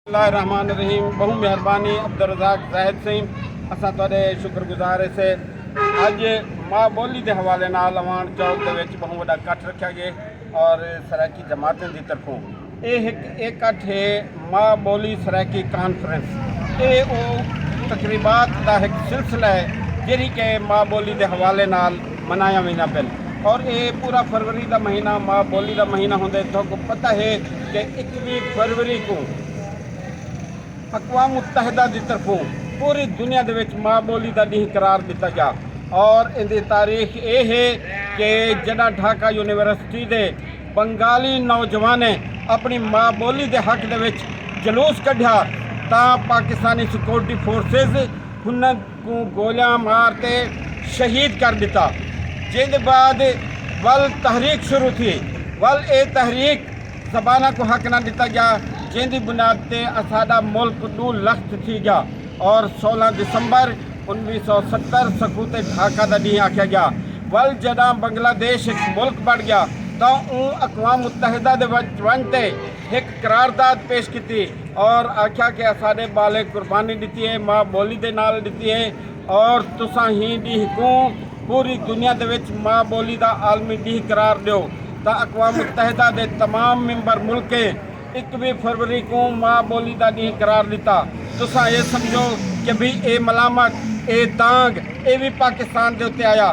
اللہ الرحمن الرحیم بہو مہربانی عبدالرزاق زاہد سہی اساں تہاڈے شکر گزار سے اج ماں بولی دے حوالے نال اوان چوک دے وچ بہو وڈا کٹ رکھیا گئے اور سرائیکی جماعتیں دی طرفوں اے ایک اے کٹ ہے ماں بولی سرائیکی کانفرنس اے او تقریبات دا ایک سلسلہ ہے جیڑی کہ ماں بولی دے حوالے نال منایا ویندا پن اور اے پورا فروری دا مہینہ ماں بولی دا مہینہ ہوندے تہاکو پتہ ہے کہ اکویں فروری کوں اقوام متحدہ دی طرفوں پوری دنیا دے وچ ماں بولی دا ڈینہ قرار ڈتا گیا اور ایندی تاریخ اے ہے کہ جڈاں ڈھاکہ یونیورسٹی دے بنگالی نوجوانیں اپنی ماں بولی دے حق دے وچ جلوس کڈھیا تاں پاکستانی سکیورٹی فورسز ہناں کوں گولیاں مار تے شہید کر ݙتا جیں دے بعد ول تحریک شروع تھی ول اے تحریک زباناں کوں حق نہ ݙتا ڳیا جیں دی بنیاد تے اساݙا ملک ݙو لخت تھی ڳیا اور سولہ دسمبر انویہہ سو ستر سقوط ڈھاکہ دا ݙینہہ آکھیا ڳیا ول جݙاں بنگلہ دیش ہک ملک بݨ ڳیا تاں اوں اقوام متحدہ دے وچ ونڄ تے ہک قرارداد پیش کیتی اور آکھیا کہ اساڈے ٻالیں قربانی ݙتی ہے ماء ٻولی دے نال ݙتی ہے اور تساں ہی ݙینہہ کوں پوری دنیا دے وچ ماء ٻولی دا عالمی ݙینہہ قرار ݙیو تاں اقوام متحدہ دے تمام ممبر ملکیں اکویہہ فروری کوں ماء ٻولی دا ݙینہہ قرار ݙتا تساں اے سمجھو کہ بھئی اے ملامت اے دانگ اے وی پاکستان دے اتے آیا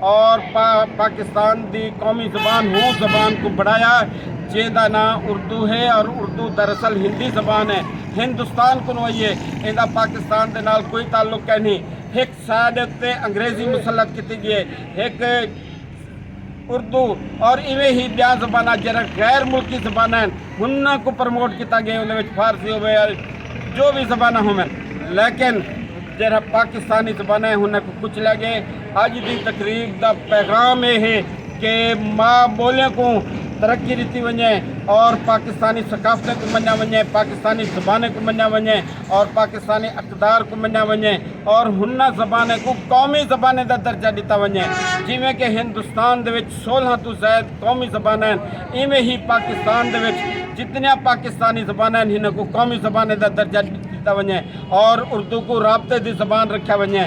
اور پاکستان دی قومی زبان ہو زبان کوں بنڑایا جیں دا ناں اردو ہے اور اردو دراصل ہندی زبان ہے ہندوستان کنوں آئی ہے ایندا پاکستان دے نال کوئی تعلق ہے نہیں ہک سائیڈ تے انگریزی مسلط کیتی گئی ہے ہک اردو اور ایویں ہی بیاں زبانہ جڑا غیر ملکی زبانہ ہیں انہاں کو پروموٹ کیتا گیا انہاں وچ فارسی ہوئے جو بھی زبانہ ہوئے لیکن جڑا پاکستانی زبانہ ہیں انہاں کو کچھ لے گئے اج دی تقریب دا پیغام اے ہے کہ ماء بولی کوں ترقی ݙتی ونڄے اور پاکستانی ثقافتیں کوں منڄا ونڄے، پاکستانی زبانیں کوں منڄا ونڄے اور پاکستانی اقدار کوں منڄا ونڄے اور ہناں زبانیں کوں قومی زبانیں دا درجہ ݙتا ونڄے جیویں کہ ہندوستان دے وچ سولہاں توں زائد قومی زباناں ہن ایویں ہی پاکستان دے وچ جتنیاں پاکستانی زباناں ہن ہناں کوں قومی زبانیں دا درجہ ݙتا ونڄے اور اردو کوں رابطے دی زبان رکھیا ونڄے۔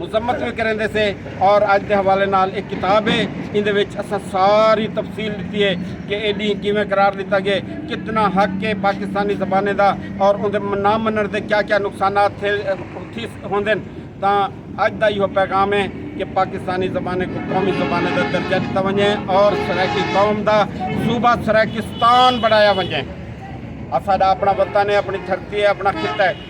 مذمت وی کریندے سے اور اج دے حوالے نال ایک کتاب ہے ایندے وچ اساں ساری تفصیل ڈتی ہے کہ اے ڈینہ کیویں قرار ڈتا گئے کتنا حق ہے پاکستانی زبانیں دا اور اوندے نہ منن دے کیا کیا نقصانات تھے تھی ہوندن تاں اج دا ایہو پیغام ہے کہ پاکستانی زبانیں کو قومی زبانیں دا درجہ ڈتا ونجے اور سرائیکی قوم دا صوبہ سرائیکستان بنایا ونجے اساڈا اپنا وطن ہے اپنی دھرتی ہے اپنا خطہ ہے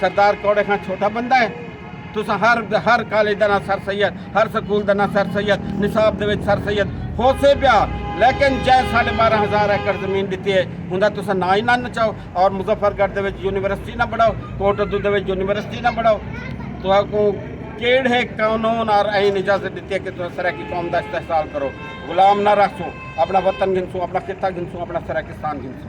سردار کوڑے خان چھوٹا بندہ ہے تسا ہر ہر کالج دا نہ سر سید ہر سکول دا نہ سر سید نصاب دے وچ سر سید ہو سے پیا لیکن جے ساڑھے بارہ ہزار ایکڑ زمین دیتی ہے ہوندا تسا نہ ہی نہ نچاؤ اور مظفر گڑھ دے وچ یونیورسٹی نہ بڑھاؤ کوٹ ادو دے وچ یونیورسٹی نہ بڑھاؤ تو کو کیڑے قانون اور عین اجازت دیتی ہے کہ تسا سرائیکی قوم دا استحصال کرو غلام نہ رہسو اپنا وطن گھنسو اپنا خطہ گھنسو اپنا سرائیکستان گھنسو